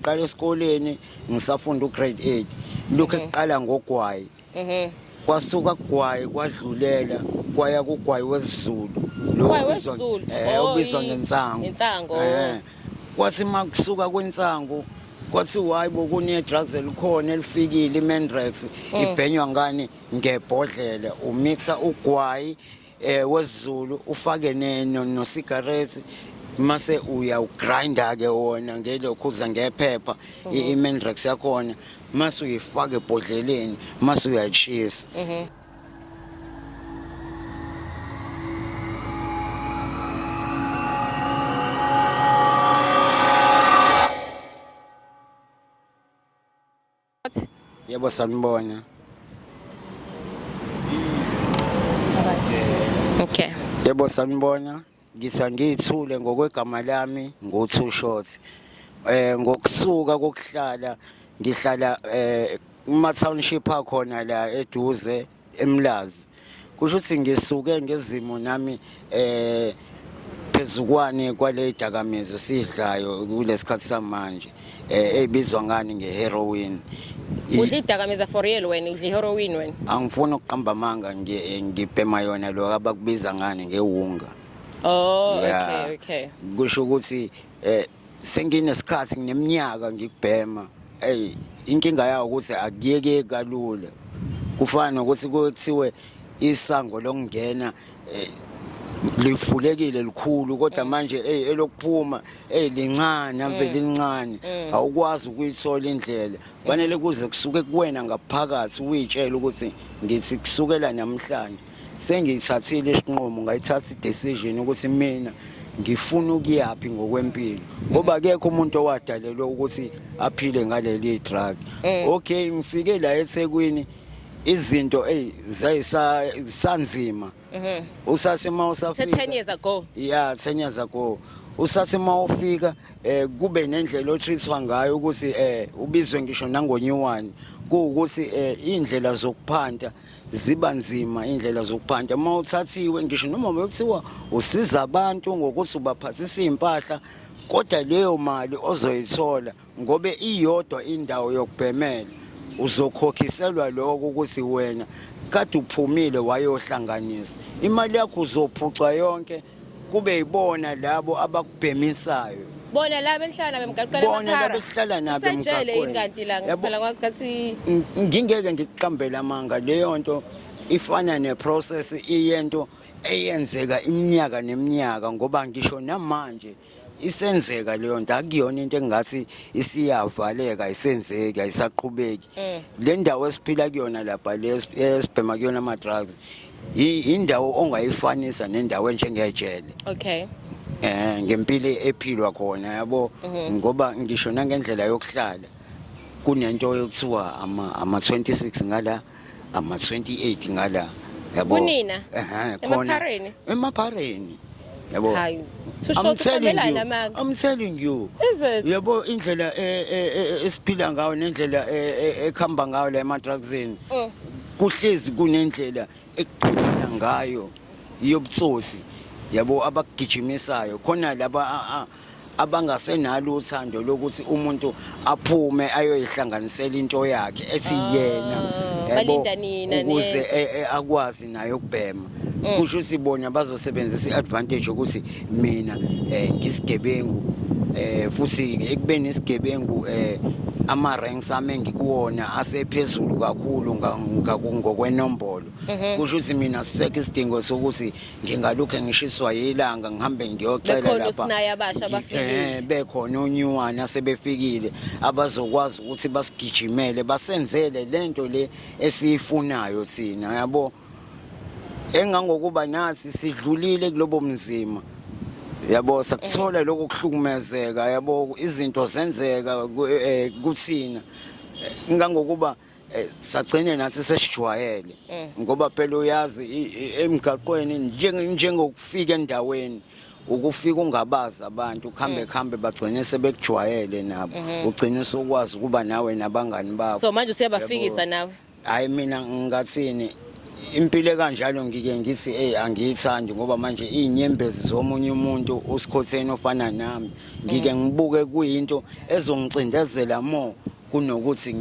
Qala esikoleni ngisafunda ugrade 8. Lokho ekuqala ngogwayi. Mhm. Kwasuka kugwayi kwadlulela kwaya kugwayi wesizulu. Lo Ugwayi ubizwa- wesiZulu? Eh, Oh, ubizwa i- ngensangu. ngensangu, oh. Eh. Kwathi makusuka kwensangu kwathi hayi bokune drugs elikhona elifikile iMendrex ibhenywa ngani ngebhodlela umixa ugwayi eh wezulu ufake neno no cigarettes mase uya ugrinda ke wona ngelokhu uza ngephepha mhm. i-mendrax yakhona mase uyifaka ebhodleleni mase uyayishisa mhm. Yebo sanibona. Okay. Yebo sanibona. Ngisa ngiyithule ngokwegama lami nguthu short. Eh ngokusuka kokuhlala ngihlala eh kuma township akhona la eduze eMlazi kusho ukuthi ngisuke ngezimo nami eh phezukwane kwale dakamizwa sidlayo kulesikhathi samanje eh ebizwa ngani ngeheroin udla idakamizwa for real wena udla iheroin wena angifuni ukuqamba amanga eh, ngibhema yona lo abakubiza ngani ngewunga Oh, yeah. okay, okay. Kusho ukuthi Eh senginesikhathi ngineminyaka ngikubhema. Ey inkinga yawo ukuthi akuyeke kalula. Kufana nokuthi kuthiwe isango lokungena eh, livulekile likhulu kodwa mm. manje ey elokuphuma ey lincane ambe mm. lincane mm. awukwazi ukuyithola indlela fanele kuze kusuke kuwena ngaphakathi uyitshela ukuthi ngithi kusukela namhlanje sengiyithathile isinqumo ngayithatha i-decision ukuthi mina ngifuna ukuyaphi ngokwempilo ngoba kekho umuntu owadalelwe ukuthi aphile ngaleli drug eh. okay ngifike la eThekwini izinto ey zayisanzima usasema usafika 10 years ago yeah 10 years ago usase uma ufika eh kube nendlela otreatwa ngayo ukuthi eh ubizwe ngisho nangonyuwani kuwukuthi eh indlela zokuphanta ziba nzima indlela zokuphanta uma uthathiwe ngisho noma bekuthiwa usiza abantu ngokuthi ubaphasisa iy'mpahla kodwa leyo mali ozoyithola ngobe iyodwa indawo yokubhemela uzokhokhiselwa lokho ukuthi wena kade uphumile wayohlanganisa imali yakho uzophucwa yonke kube yibona labo abakubhemisayo bona laba enhlala bemgaqela bona laba esihlala nabo emgaqweni yini kanti la ngiphela kwathi ngingeke ngiqambele amanga leyo nto ifana neprocess iyento eyenzeka iminyaka neminyaka ngoba ngisho namanje isenzeka leyo nto akuyona into engathi isiyavaleka isenzeki ayisaqhubeki mm. le ndawo esiphila kuyona lapha le esibhema kuyona ama-drugs indawo ongayifanisa nendawo enjengejele okay eh ngempilo ephilwa khona yabo mhm. ngoba ngisho nangendlela yokuhlala kunento yokuthiwa ama ama 26 ngala ama 28 ngala yabo kunina ehe khona emaphareni emaphareni yabo hayi I'm telling you I'm telling you yabo indlela e, e, e, esiphila ngayo nendlela ekhamba ngayo la ema drugsini mm. kuhlezi kunendlela ekuqhubana ngayo yobutsotsi yabo abagijimisayo khona laba abangasenalo uthando lokuthi umuntu aphume ayoyihlanganisela into yakhe ethi ah, yena yabo ukuze e, e, akwazi naye ukubhema mm. kusho ukuthi bona bazosebenzisa i-advantage yokuthi mina um ngisigebengu um futhi ekubeni isigebengu um ama-ranks ami engikuwona asephezulu kakhulu ngokwenombolo mhm. kusho ukuthi mina sisekho isidingo sokuthi ngingalokhe ngishiswa yilanga ngihambe ngiyocela lapha bekhona osinaye abasha abafikile eh, bekhona onyuwani asebefikile abazokwazi ukuthi basigijimele basenzele lento le esiyifunayo sina yabo engangokuba nathi sidlulile kulobo mzima yabo sakuthola eh. lokho kuhlukumezeka yabo izinto zenzeka eh, kuthina ngangokuba Eh, sagcine nathi sesijwayele eh. ngoba phela uyazi emgaqweni njengokufika endaweni ukufika ungabazi abantu kuhambe eh. kuhambe bagcine sebekujwayele nabo mhm. ugcine usukwazi ukuba nawe nabangani bakho so manje usiyabafikisa nawe hayi mina ngathini impilo ekanjalo ngike ngithi hey angiyithandi ngoba manje izinyembezi zomunye umuntu usikhotheni ofana nami ngike mm. ngibuke kuyinto ezongicindezela more kunokuthi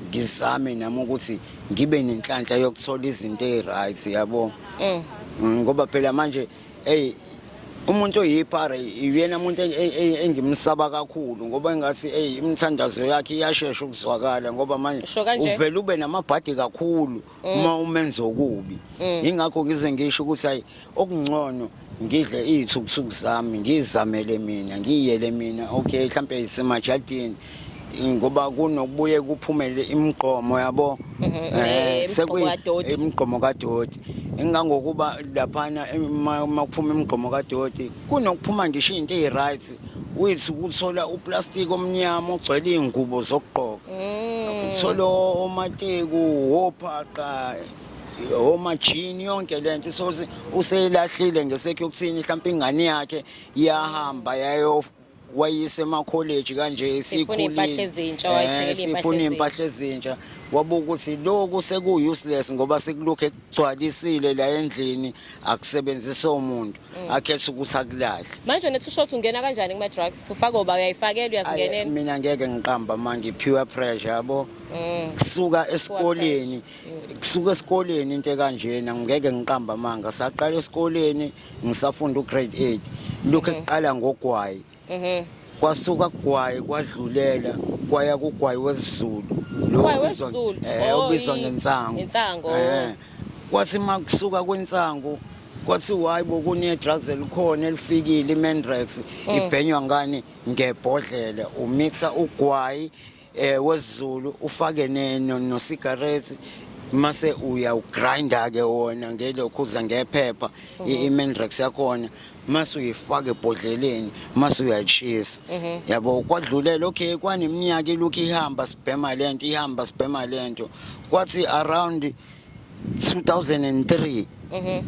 ngizame nami ukuthi ngibe nenhlanhla yokuthola izinto eziryt yabo mm. mm, ngoba phela manje eyi umuntu oyipara iyena muntu engimsaba kakhulu ngoba engathi eyi imithandazo yakhe iyashesha ukuzwakala ngoba manje uvele ube namabhadi kakhulu mm. uma umenza okubi mm. ingakho ngize ngisho ukuthi hayi okungcono ngidle iy'thukuthuku zami ngizamele mina ngiyele mina okay mhlawumpe yisemajadini ngoba kunokubuye kuphumele imigqomo yabo mhm, eh, eh, imigqomo kadoti engangokuba laphana uma kuphuma imigqomo kadoti kunokuphuma ngisho iy'nto eyi-right wethu ukuthola uplastiki omnyama ogcwele iy'ngubo zokugqoka mm. uthole omateku wophaqa omajini yonke le nto uthole useyilahlile ngesekho yokuthini mhlawumpe ingane yakhe iyahamba yayo wayise emakholeji kanje sifuna impahla ezintsha wayithengela eh, impahla sifuna impahla ezintsha wabuka ukuthi lokhu seku useless ngoba sekulokhu ekugcwalisile la endlini akusebenzisa umuntu Mm. akhetha ukuthi akulahle manje wena usho ukuthi ungena kanjani kuma drugs ufaka oba uyayifakela uyazingenela mina ngeke ngiqamba manje pure pressure yabo mm. kusuka esikoleni mm. kusuka esikoleni into kanjena ngeke ngiqamba manga saqala esikoleni ngisafunda ugrade 8 lokho mm-hmm. ekuqala ngogwayi ehe kwasuka kugwaye kwadlulela kwaya kugwayi wesizulu lo Ugwayi ubizwa- wesiZulu. eh, Oh, ubizwa i- ngensangu ngensangu, oh. Eh, kwathi uma kusuka kwensangu kwathi wayi bokunedrugs elikhona elifikile imendrax ibhenywa ngani ngebhodlela umixa ugwayi eh wezulu ufake neno no cigarettes mase uyawugrinda ke wona ngelokhu uza ngephepha mhm. i-mendrax yakhona mase uyifaka ebhodleleni mase uyayishisa mhm. yabo kwadlulela okay kwaneminyaka ilokhu ihamba sibhema lento ihamba sibhema lento kwathi around 2003 mhm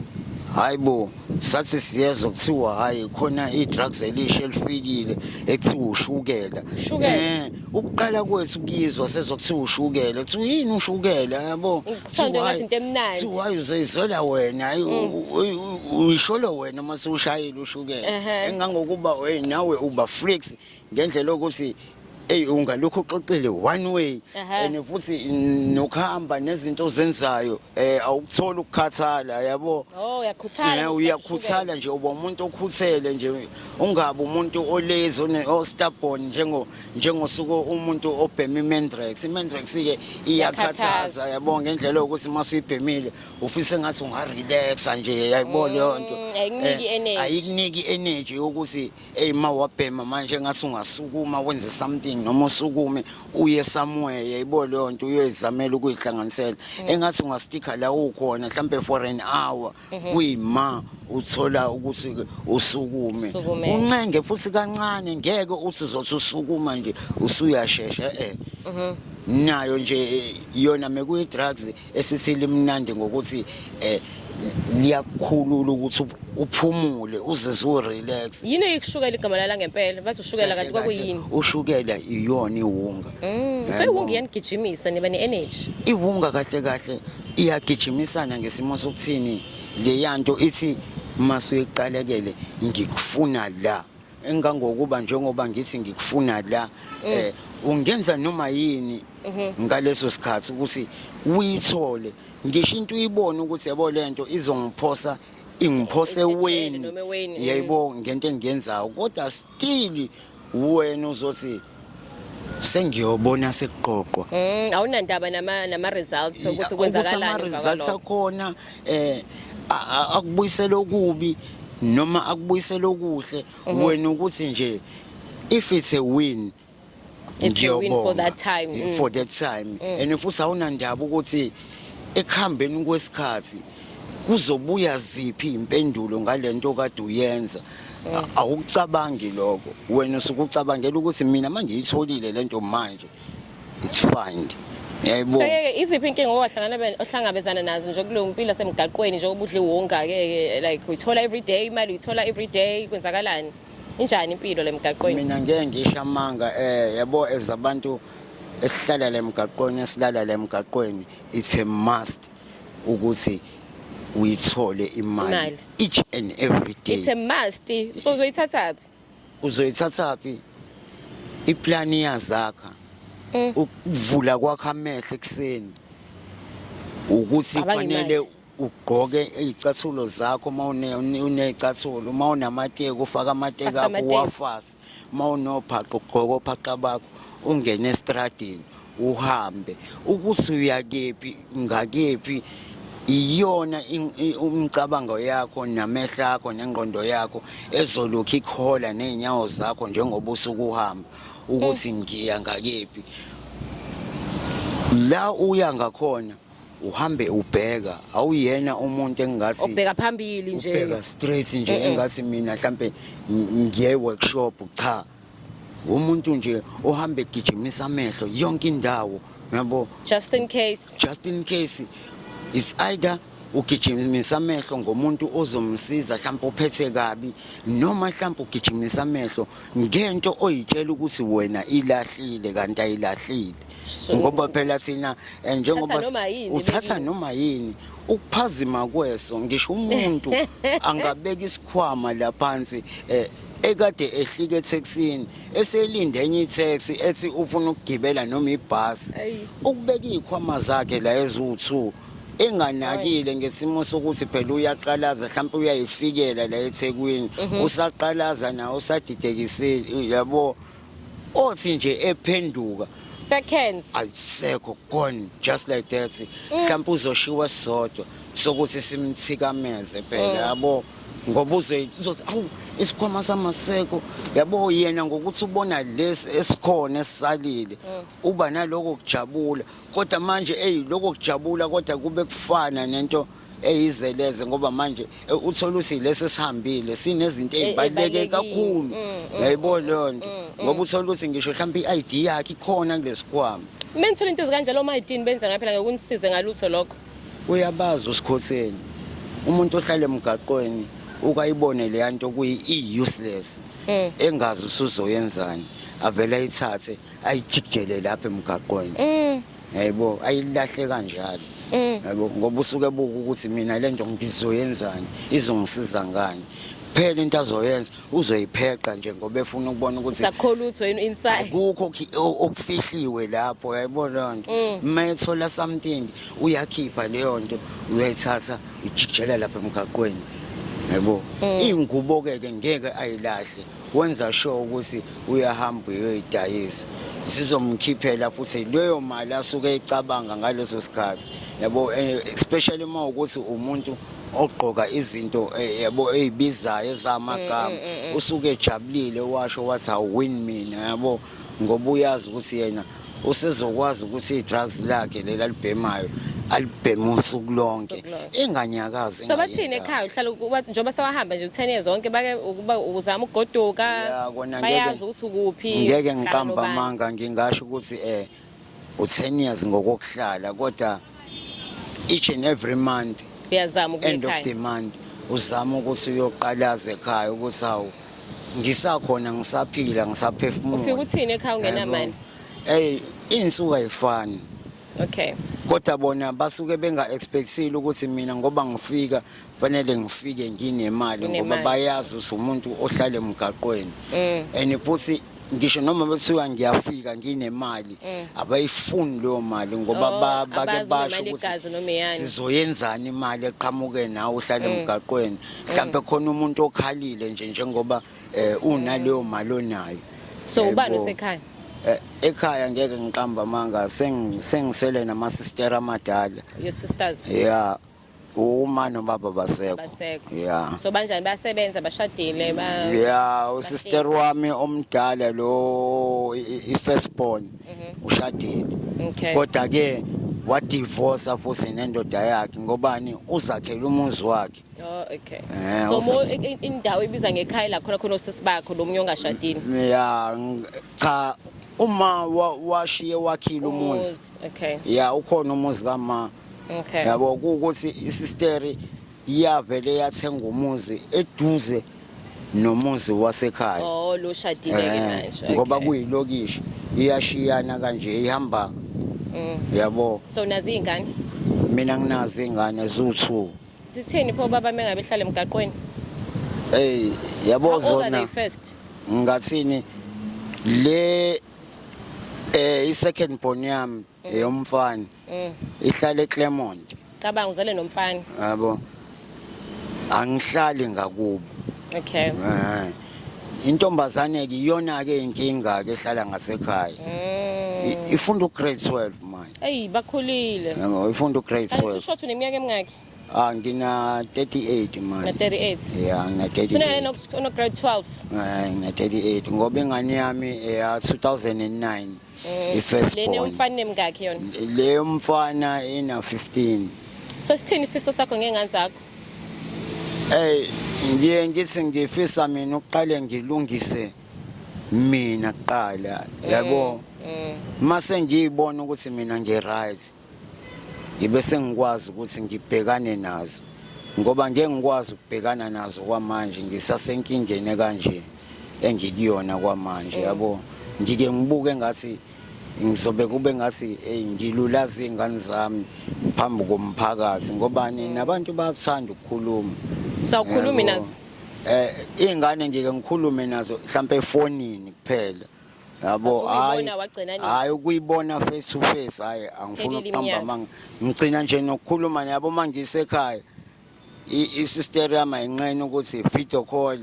hayibo sathi siyezwa kuthiwa hayi khona i-drugs elisha elifikile ekuthiwa ushukela Ushukela? Eh, ukuqala kwethu kuyizwa sezokuthiwa ushukela kuthiwa yini ushukela yabo Kusondwa ngathi into emnandi. Mm. hayi uzeyizwela wena hayi u- u- u- uyisholo wena uma sewushayile ushukela Ehhe. engangokuba hey nawe uba freaks ngendlela yokuthi eyi ungalokhu uxoxile one way and futhi nokuhamba nezinto ozenzayo um awukuthola ukukhathala yabo oh, eh, uyakhuthala nje uba umuntu okhuthele nje ungabi umuntu olezi ostabon njengosuke umuntu obhema imendrax imendrax-ke iyakhathaza yabo ngendlela yokuthi uma suyibhemile ufise ngathi ungarelaxa nje yayibona leyo nto mm, eh, ayikuniki energy yokuthi eyi ma wabhema manje engathi ungasukuma wenze something noma usukume uye somewhere yayibo leyo nto uyoyizamela ukuyihlanganisela mm. engathi ungastikha la ukhona mhlawumbe for an hour mhm. kuyima uthola ukuthi usukume uncenge futhi kancane ngeke uthi uzothi usukuma nje usuyashesha eh mhm. nayo nje yona mekuyi-drugs Esisi limnandi ngokuthi eh liyakukhulula ukuthi uphumule uzizwe urelax. Yini eyikushukela igama lala ngempela? Bathi ushukela kanti kwakuyini? Ushukela iyona iwunga. Mm. So iwunga iyanigijimisa niba ne energy. Iwunga kahle kahle iyagijimisana ngesimo sokuthini leyanto ithi masuyiqalekele ngikufuna la. engangokuba njengoba ngithi ngikufuna la mm. eh ungenza noma yini mhm. ngaleso sikhathi ukuthi uyithole ngisho into uyibone ukuthi yabo lento izongiphosa ingiphose weni yayibonga ngento engiyenzayo kodwa still wena uzothi sengiyobona sekuqoqwa mm, awunandaba nama nama results ukuthi kwenzakalani ama results akhona eh akubuyisela okubi noma akubuyisela okuhle mhm. wena ukuthi nje if it's a win it's a win for that time mm. for that time mm. and futhi awunandaba ukuthi ekuhambeni kwesikhathi kuzobuya ziphi impendulo ngalento kade uyenza eh. awucabangi lokho wena usukucabangela ukuthi mina mangiyitholile lento manje it's fine yayibona seke iziphi inkinga owahlangana ohlangabezana nazo nje kuleyo mpilo semgaqweni njengoba udle wonga ke like uyithola every day imali uyithola every day kwenzakalani injani impilo lemgaqweni mina ngeke ngisho amanga eh yabo ezabantu esihlala lemgaqweni esilala lemgaqweni it's a must ukuthi uyithole imali Imali. each and every day it's a must so uzoyithathaphi uzoyithathaphi iplan iyazakha Mm. ukuvula kwakho amehlo ekuseni ukuthi Cabanga kufanele imali. ugqoke iy'cathulo zakho uma une- une- uney'cathulo uma unamateki ufake amateki Fasa akho amateki. uwafase uma unobhaqa ugqoke ophaqa bakho ungene esitradini uhambe ukuthi uyakephi ngakephi iyona umcabango yakho namehlo akho nengqondo yakho ezolokhu ikhola nezinyawo zakho njengoba usuku uhamba ukuthi ngiya ngakephi la uya ngakhona uhambe ubheka awuyena umuntu engingathi ubheka phambili nje ubheka straight nje engathi mina mhlambe ngiye workshop cha umuntu nje ohamba egijimisa amehlo yonke indawo yabo just in case just in case is either ugijimisa amehlo ngomuntu ozomsiza mhlawumbe uphethe kabi noma mhlawumbe ugijimisa amehlo ngento oyitshela ukuthi wena ilahlile kanti ayilahlile ngoba phela thina eh, njengoba uthatha noma yini ukuphazima kweso ngisho umuntu angabeka isikhwama la phansi eh, ekade ehlika ethekisini eselinde enye itaxi ethi ufuna ukugibela noma ibhasi ukubeka izikhwama zakhe la eziwu-two enganakile ngesimo sokuthi phela uyaqalaza mhlawumbe uyayifikela la ethekwini mhm. usaqalaza nawo usadidekisile yabo othi nje ephenduka seconds ayisekho gone just like that mm. mhlawumbe uzoshiwa sodwa sokuthi simthikameze phela mm. yabo ngoba uze uzothi awu isikhwama samaseko yabo yena ngokuthi ubona lesi esikhona esisalile mm. uba naloko kujabula kodwa manje eyi loko kujabula kodwa kube kufana nento eyizeleze ngoba manje e, uthole ukuthi lesi sihambile sinezinto e, ezibaluleke kakhulu mm, mm, ngayibona mm, leyo nto ngoba uthole ukuthi ngisho mhlawumbe i-ID yakhe ikhona kulesikhwama mina ngithola into ezikanjalo oma-idini benza ngayo phela ngokunisize ngalutho lokho uyabazi usikhotheni umuntu ohlala emgaqweni ukayibone leya nto kuyi-e-useless engazi usuzoyenzani avele ayithathe ayijikele lapha emgaqweni yayibo ayilahle kanjalo mm. yabo ngoba usuke buka ukuthi mina le nto ngizoyenzani izongisiza ngani kuphela into azoyenza uzoyipheqa nje ngoba efuna ukubona ukuthi sakhola utho yini inside akukho okufihliwe lapho yayibona nto mm. uma ethola something uyakhipha leyo nto uyayithatha ijikjela lapha emgaqweni yebo mm. ingubo ke ke ngeke ayilahle wenza sure ukuthi uyahamba uyoyidayisa sizomkhiphela futhi leyo mali asuke ecabanga ngaleso sikhathi yabo eh, especially uma ukuthi umuntu ogqoka izinto eh, yabo ezibizayo ezamagama mm, mm, mm, usuke ejabulile washo wathi awin mina yabo ngoba uyazi ukuthi yena usezokwazi ukuthi i-drugs lakhe leli alibhemayo alibheme usuku lonke enganyakazi so bathini ekhaya uhlala njengoba sewahamba nje u-ten years zonke bake uzama ukugoduka bayazi ukuthi ukuphi ngeke ngiqamba amanga ngingasho ukuthi um u-10 years ngokokuhlala kodwa each and every month uyazama end of the month uzama ukuthi uyoqalaza ekhaya ukuthi hawu ngisakhona ngisaphila ngisaphefumula ufika uthini ekhaya ungenamali hey insuku ayifani okay kodwa bona basuke benga-expectile ukuthi mina ngoba ngifika fanele ngifike nginemali ngoba Unemali. bayazi ukuthi umuntu ohlala emgaqweni Mm. and futhi ngisho noma bethiwa ngiyafika nginemali Mm. abayifuni leyo mali ngoba Oh, ba- bake abazi noma basho imali yegazi noma ukuthi eyani. Mm. sizoyenzani imali eqhamuke nawe uhlale emgaqweni mhlawumbe khona umuntu okhalile nje njengoba eh, unaleyo mali onayo Mm. So, Yebo. ubani osekhaya? Eh, ekhaya ngeke ngiqamba amanga sengi- sengisele namasistera amadala your sisters ya uma nobaba basekho basekho yeah so banjani basebenza bashadile ba yeah usister wami omdala lo i first born mhm. ushadile okay kodwa ke wa divorce futhi nendoda yakhe ngobani uzakhela umuzi wakhe Oh okay. Eh, so mo indawo ibiza ngekhaya la khona khona usisi bakho lo munye ongashadile. Yeah cha uma washiye wakhile umuzi. Okay. Yeah ukhona umuzi kama okay yabo ukuthi isisteri iyavele yathenga umuzi eduze nomuzi wasekhaya oh lo shadile ke eh, manje ngoba kuyilokishi iyashiyana kanje ihamba mm. yabo so nazi ingane mina nginazi ingane zuthu sithini pho baba mengabe hlala emgaqweni hey yabo zona first ngathini le eh i second born yami eyomfana mm. ihlala eClermont cabanga uzale nomfana yabo angihlali ngakubo okay eh. intombazane ke iyona ke inkinga ke ehlala ngasekhaya mm. ifunda ugrade 12 manje eyi bakhulile yabo ifunda ugrade 12 usho ukuthi uneminyaka emingaki Ah, ngina 38 manje. Na 38. Yeah, ngina 38. Sina yena ono grade 12. Eh, ngina 38 ngoba ingane yami eya 2009. Mm. Ifirst born. Le umfana nemkakhe yona. Le umfana ina 15. So sithini ifiso sakho ngengane zakho? Eh, ngiye ngithi ngifisa mina uqale ngilungise mina kuqala. Yabo. Mm. Mm. Mase ngiyibona ukuthi mina ngi right. ngibe sengikwazi ukuthi ngibhekane nazo ngoba ngeke ngikwazi ukubhekana nazo kwamanje ngisasenkingeni ekanje engikuyona kwamanje mm. yabo ngike ngibuke ngathi ngizobe kube ngathi hey ngilulaza izingane zami phambi komphakathi ngoba mm. nabantu bayakuthanda ukukhuluma sawukhulumi nazo eh ingane ngike ngikhulume nazo mhlambe efonini kuphela yabo hayi hayi ukuyibona face to face hayi angifuni ukuhamba manga ngicina nje nokukhuluma yabo mangisekhaya isister yami ayinqeni ukuthi video call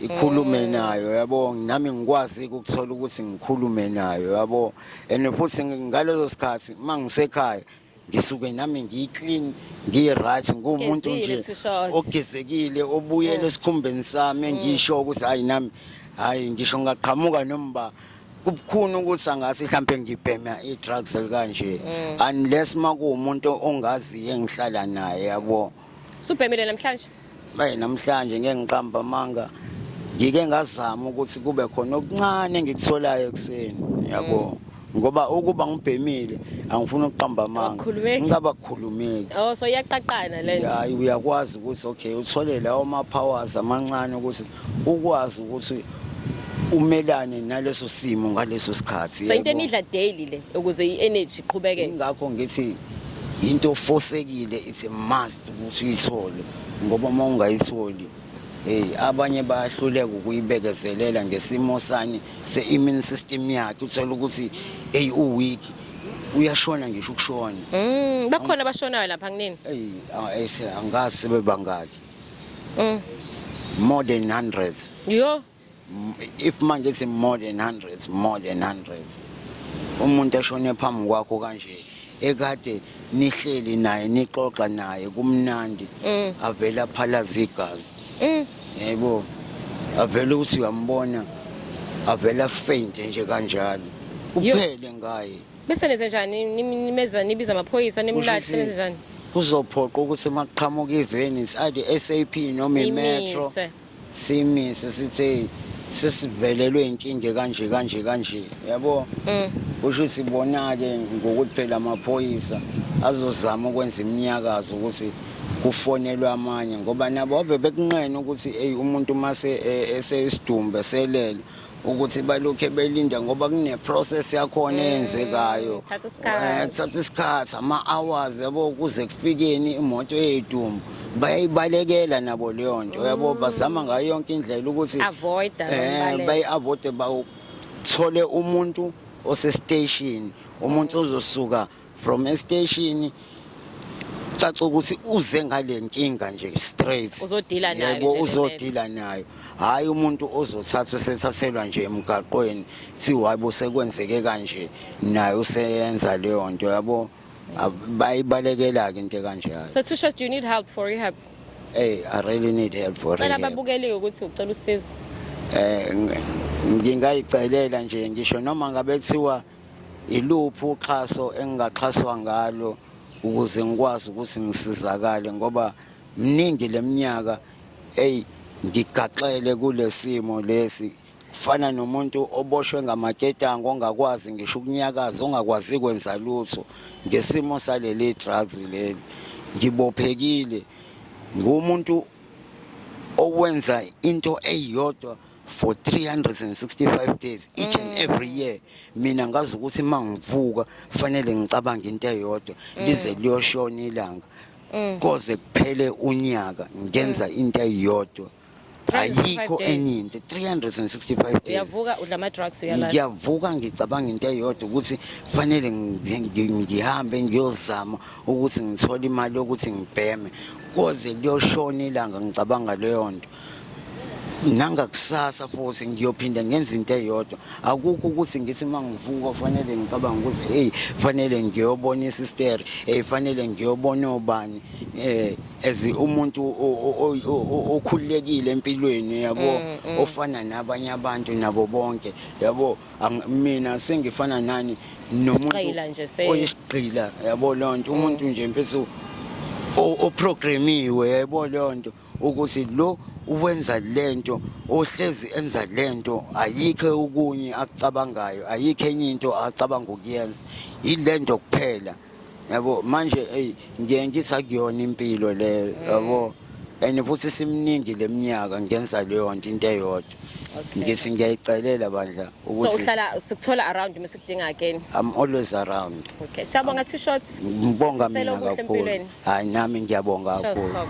ikhulume mm. nayo yabo nami ngikwazi ukuthola ukuthi ngikhulume nayo yabo and futhi ngalezo sikhathi mangisekhaya ngisuke nami ngiyiclean ngiyi-right nguwumuntu nje Gezile, t-shirts. ogezekile obuyela Mm. esikhumbeni sami engisho ukuthi hayi nami hayi ngisho ngingaqhamuka noma uba kubukhuni ukuthi angase mhlawumpe ngibhema i-drugs elikanje Mm. unless uma kuwumuntu ongaziyo engihlala naye yabo Subhemile namhlanje. Bayi namhlanje ngeke ngiqamba amanga. Ngike ngazama ukuthi kube khona okuncane ngikutholayo ekseni. Yabo. Mm. ngoba ukuba ngibhemile angifuni ukuqamba amanga ngingaba kukhulumeki oh so iyaqaqana lento hayi uyakwazi ukuthi okay uthole lawo ma powers amancane ukuthi ukwazi ukuthi umelane naleso simo ngaleso sikhathi so into enidla daily le ukuze i-energy iqhubeke ingakho ngithi into ofosekile it's a must ukuthi uyithole ngoba uma ungayitholi hey abanye bayahluleka ukuyibekezelela ngesimo sani se-immune system yakhe uthola ukuthi eyi uweak uyashona ngisho ukushona mm, bakhona abashonayo lapha kunini eyi ah, angazi sebebangaki mm. more than hundreds yo if manje si more than hundreds more than hundreds umuntu eshone phambi kwakho kanje ekade nihleli naye nixoxa naye kumnandi mm. avela phalaza igazi mm. yebo avele ukuthi uyambona avela faint nje kanjalo kuphele ngaye bese nenze njani nimeza nibiza amaphoyisa nimlahle nenze njani kuzophoqa ukuthi uma kuqhamuka iveni side SAP noma imetro simise sithe sesivelelwe inkinga kanje kanje kanje yabo mm. kusho ukuthi bona ke ngokuthi phela amaphoyisa azozama ukwenza iminyakazo ukuthi kufonelwe amanye ngoba nabo babe bekunqena ukuthi eyi umuntu mase e, eseyisidumbe selele ukuthi balokhe belinda ngoba kuneprocess yakhona mm, eyenzekayo eh, kuthatha isikhathi ama-hours yabo kuze kufikeni imoto eyedumbu bayayibalekela nabo leyo nto yabo mm. bazama ngayo yonke indlela ukuthi um bayi-avoide bawuthole umuntu osesiteshini umuntu ozosuka from estation caca ukuthi uze ngale nkinga nje straight Uzodila nayo Yebo, nje le uzodila nayo hhayi umuntu ozothathwa sethathelwa nje emgaqweni kuthiwa hayi bo sekwenzeke kanje naye useyenza leyo nto yabo Ab- bayibalekela-ke into kanjalo So Tusha, do you need help for rehab? ey i really need help for Cela rehab. babukeliwe ukuthi ucela usizo. Eh, ngi- ngingayicelela nje ngisho noma ngabe kuthiwa Iluphi uxhaso engingaxhaswa ngalo ukuze ngikwazi ukuthi ngisizakale ngoba mningi leminyaka eyi ngigaxele kulesimo lesi fana nomuntu oboshwe ngamaketango ongakwazi ngisho ukunyakaza ongakwazi kwenza lutho ngesimo saleli drugs leli ngibophekile ngumuntu owenza into eyodwa for 365 days each and mm. every year mina ngazi ukuthi uma ngivuka kufanele ngicabange into eyodwa mm. lize liyoshona ilanga mm. koze kuphele unyaka ngenza into eyodwa ayikho enye into 365 days uyavuka udla ama drugs uyalala ngiyavuka ngicabanga into eyodwa ukuthi kufanele ngihambe ngiyozama ukuthi ngithole imali yokuthi ngibheme koze liyoshona ilanga ngicabanga leyo nto nangakusasa futhi ngiyophinde ngenza into eyodwa akukho ukuthi ngithi uma ngivuka fanele ngicabanga ukuthi heyi fanele ngiyobona isisteri heyi fanele ngiyobona obani um as umuntu okhululekile empilweni yabo mm, mm. ofana nabanye abantu nabo bonke yabo mina sengifana nani nomuntu oyisigqila yabo lonto mm. umuntu nje mfethu oprogramiwe yabo lonto ukuthi lo uwenza lento ohlezi enza lento ayikho okunye akucabangayo ayikho enye into acabanga ukuyenza yilento kuphela yabo manje hey ngiye ngisa kuyona impilo le yabo and futhi simningi leminyaka ngenza leyo nto into eyodwa ngithi ngiyayicelela bandla ukuthi so uhlala sikuthola around uma sikudinga again i'm always around okay siyabonga t-shirts ngibonga mina kakhulu Hayi nami ngiyabonga Sho kakhulu. Skhok.